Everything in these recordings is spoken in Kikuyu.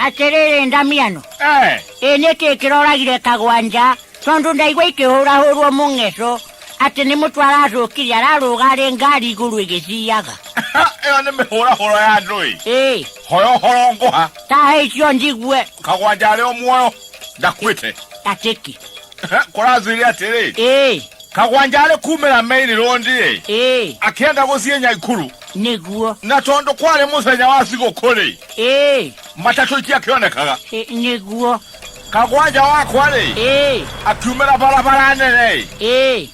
atĩrĩrĩ ndamiano Eh, ĩ nĩ kĩ kĩroragire kagwanja tondũ ndaigua ikĩhũrahũrwo mũng'eco atĩ nĩ mũtwe aracũkire ararũga arĩ ngari igũrũ ĩgĩciaga ĩyo nĩ mĩhũrahũro ya andũ-ĩ ĩ hoya ũhoro ngũha tahe icio njigue kagwanja arĩ o muoyo ndakuĩte atĩki kũrathwire atĩrĩ ĩĩ kagwanja arĩ kumĩra meiri rũndi-ĩ ĩĩ akĩenda gũthiĩ nyaikuru nĩguo na tondũ kwarĩ mũthenya wa thigũkũ-rĩ ĩĩ matatũ itiakĩonekaga ĩ- nĩguo kagwanja wakwa-rĩ ĩĩ akiumĩra barabara nene-ĩ ĩĩ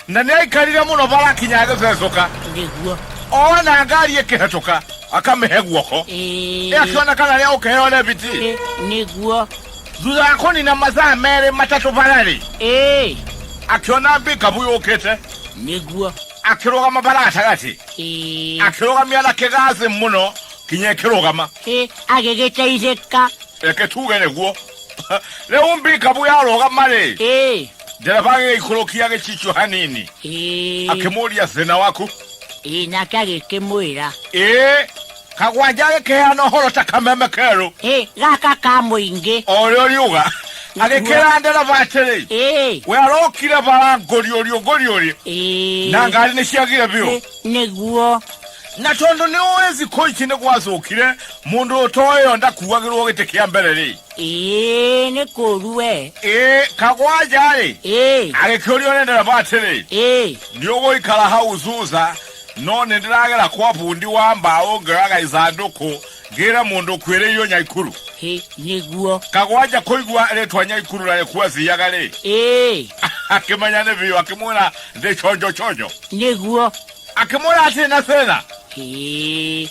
na nĩ aikarire mũno barakinya agĩcecũka nĩguo ona ngari ĩkĩhetũka akamĩhe guoko ĩĩ ĩakĩonekana rĩa ũkĩheo rebiti Ĩ, nĩguo thutha wa kũnina mathaa merĩ matatũ bararĩ ĩĩ akĩona mbikabu yũkĩte nĩguo akĩrũgama bara gatagatĩ ĩĩ akĩrũgamia na kĩgathĩ mũno kinya ĩkĩrũgama ĩ agĩgĩteithĩka reke tuge nĩguo rĩu mbikabu yarũgama-rĩ ĩĩ ndereba agĩgĩikũrũkia gĩcicio hanini ĩĩ akĩmũria thĩna waku ĩĩ nake agĩkĩmwĩra ĩĩ kagwanja agĩkĩheana ũhoro ta kameme kerũ ĩ gaka ka mũingĩ o ũrĩa ũriuga agĩkĩra ndereba atĩrĩ ĩ we arokire bara ngũriũriũ ngũriũriũ ĩ na ngari nĩ ciagire biũ Ĩ, nĩguo na tondũ nĩ ũĩ thikũ ici nĩ gwacũkire mũndũ ũtoĩyo ndakuagĩrwo gĩtĩ kĩa mbere rĩ ĩ nĩ kũru we ĩ kagwanja-rĩ ĩ agĩkĩũrio nĩ ndereba atĩrĩ ĩ nĩ ũgũikara hau thutha No nĩndĩragera kwa bundi wa mbaũ ngĩoyaga ithandũkũ ngĩre mũndũ ũkuĩrĩirwo Nyaikuru. Hĩ, nĩguo. Kagwanja kũigua rĩtwa Nyaikuru na nĩkuo athiaga-rĩ, Ĩĩ, akĩmenya nĩ biũ, akĩmwĩra ndĩ chonjo chonjo. nĩguo. Akĩmwĩra atirĩ na thĩna. Hĩ,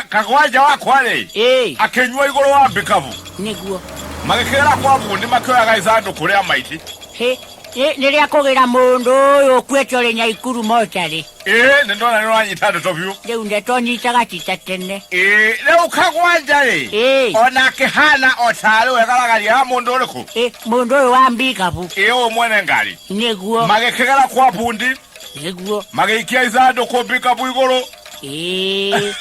Kagwanja wakwa-rĩ, ĩĩ, akĩnyua igũrũ wa mbikabu. nĩguo. Magĩkĩgera kwa bundi makĩoyaga ithandũkũ rĩa maiti. Hĩ, Ĩ, nĩ rĩa kũgĩra mũndũ ũyũ ũkuĩte ũrĩ nyaikuru mocarĩ ĩ nĩ ndona nĩ ũranyita ndeto biũ rĩu ndeto nyitaga cita tene ĩ rĩu kagwanja rĩ Ĩ. ona akĩhana o tarĩ we garagaria ya mũndũ ũrĩkũ Ĩ, mũndũ ũyũ wa mbikabu ĩ ũũ mwene ngari nĩguo magĩkĩgera kwa bundi nĩguo magĩikia ithandũkũ mbikabu igũrũ Ĩ,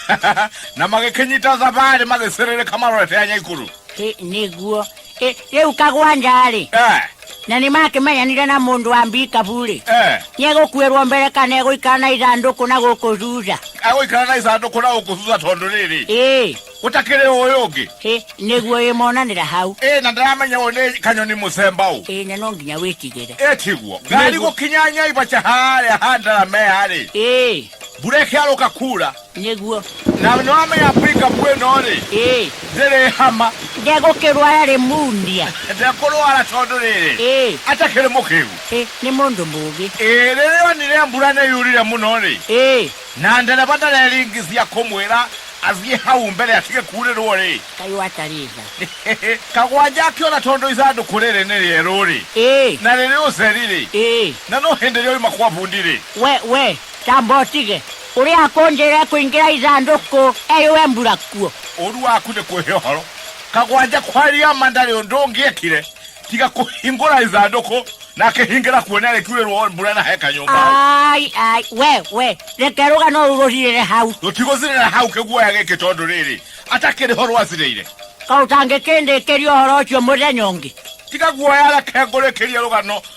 na magĩkĩnyita thabarĩ magĩcĩrĩrĩka marorete ya nyaikuru ĩ, nĩguo Ĩ- rĩu kagwanja-rĩ Eh, na nĩ makĩmenyanire na mũndũ wa mbikabu-rĩ eh. nĩegũkuĩrwo mbere kana egũikara na ithandũkũ na gũkũ thutha agũikara na icandũkũ na gũkũ thutha tondũ rĩrĩ ĩĩ gũtakĩrĩ ũyũ ũngĩ ĩ, nĩguo ĩmonanĩra hau ĩ na ndaramenya ũyũ nĩ kanyoni mũcemba ũũ ĩĩ na no nginya wĩtigĩre ĩtiguo ngari Nĩguo. gũkinya nyaibaca harĩa handarameya-rĩ ĩĩ mbura ĩkĩarũka kura Nĩguo. Na nĩ wamenya pickup ĩno rĩ Ĩĩ. ndĩrĩ hama Ndegũkĩrwara rĩ mundia. ndekũrwara tondũ rĩrĩ Ĩĩ. atakĩrĩ mũkĩgu Ĩ, nĩ mũndũ mũũgĩ. Ĩĩ, rĩrĩa onire mbura nĩ yurire mũno rĩ Ĩĩ. na ndereba ndareringithia kũmwĩra athiĩ hau mbere atige kurĩrwo rĩ Kaĩ watarĩ tha. kagwanja akĩona tondũ ithandũkũ rĩrĩ nĩ rĩerũ rĩ Ĩĩ. na rĩrĩ ũtheri rĩ Ĩĩ. na no hĩndĩ rĩoima kwa bundi rĩ We, we, tamba ũtige. Ũrĩa akũnjĩrĩre kũingĩra ithandũkũ eyũwe mbura kuo. Ũũru waku nĩ kwĩhe ũhoro. Kagwanja kwaria ma ndarĩ ũndũ ũngĩekire tiga kũhingũra ithandũkũ na akĩhingĩra kuo nĩ arĩkiurĩrwo mbura na he kanyũmba hau. Ai, ai, we, we, reke rũgano rũu rũthirĩre hau. Rũtigũthirĩra hau kĩguoya gĩkĩ tondũ rĩrĩ, atakĩrĩ ho rwathirĩire. Kaĩ ũtangĩkĩndĩkĩria ũhoro ũcio mũthenya ũngĩ? Tiga guoya reke ngũrĩkĩrie rũgano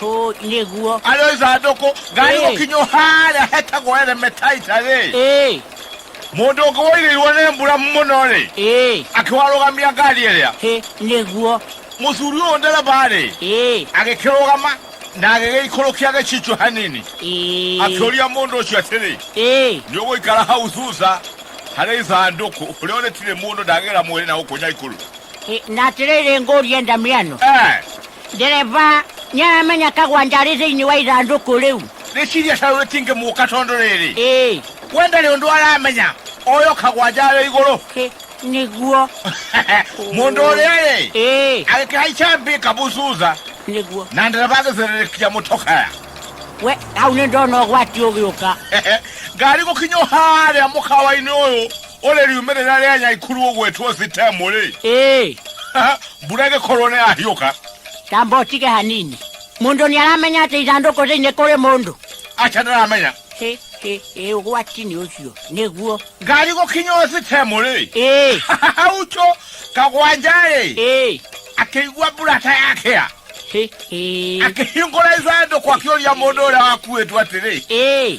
To ne guo. Alo za doko gari Eh. okinyo hara heta goere metaita re. Eh, Mundu ngoire iwone mbura muno re. eh, Akiwarugamia ngari iria. he ne guo. Muthuri uyu ndereba re. Eh, Agikirugama na agigikurukia gichicho hanini. eh, Akiuria mundu ucio atiri. eh, Nĩ ũgũikara hau thutha harĩ ithandũkũ ũrĩa ũrĩtirĩ mũndũ ndagĩra mwĩrĩ na gũkũ nyaikũrũ he na tirere ngoria ndamiano. Eh, Ndereba, nĩ aramenya kagwanja arĩ thĩinĩ wa ithandũkũ rĩu? Rĩciria caũ rĩtingĩmũka tondũ rĩrĩ. Ĩĩ. We ndarĩ ũndũ aramenya, oyo kagwanja arĩ igũrũ. Ĩ, Nĩguo. Mũndũ ũrĩa-rĩ, Ĩĩ. agĩkĩhaica mbika bucuza Nĩguo. na ndereba agĩcererĩkia mũtokaya. We, hau nĩ ndona ũgwati ũgĩũka. Ngari gũkinya o harĩa mũkawa-inĩ ũyũ Ũrĩ riumĩrĩra rĩa Nyaikuru ũgwĩtwo Sitemu-rĩ, Ĩĩ, mbura ĩgĩkorwo nĩ yahiũka, tamba ũtige hanini. Mũndũ nĩ aramenya atĩ ithandũkũ thĩinĩ kũrĩ mũndũ. aca ndaramenya. Hĩ, hĩ, hĩ, ũgwati nĩ ũcio. Nĩguo. Ngari gũkinya o Sitemu-rĩ, Ĩĩ, haucho kagwanja-rĩ, ĩĩ, akĩigua mbura ta yakĩa. hĩ, hĩ, Akĩhingũra ithandũkũ akĩũria mũndũ ũrĩa wakuĩtwo atĩrĩ, ĩĩ.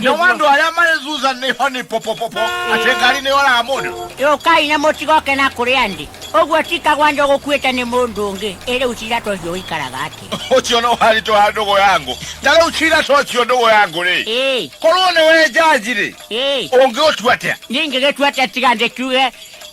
nyowandu aria mari thutha niho ni popopopo ati ngari ni oraga mundu yũkai na mũtigoke na kũrĩ andĩ ũguo tikagwa njo gũkuĩte nĩ mũndũ ũngĩ ĩrĩ ucira tũcio ũikaraga atĩ ucio no haritå ha ndå gå yangu ta rä u cira tocio ndå gå yangu rä ĩĩ korwo nä we njanji rä ĩĩ å ngä å tua atä a ningĩ gĩtua atĩ tiga ndĩkiuge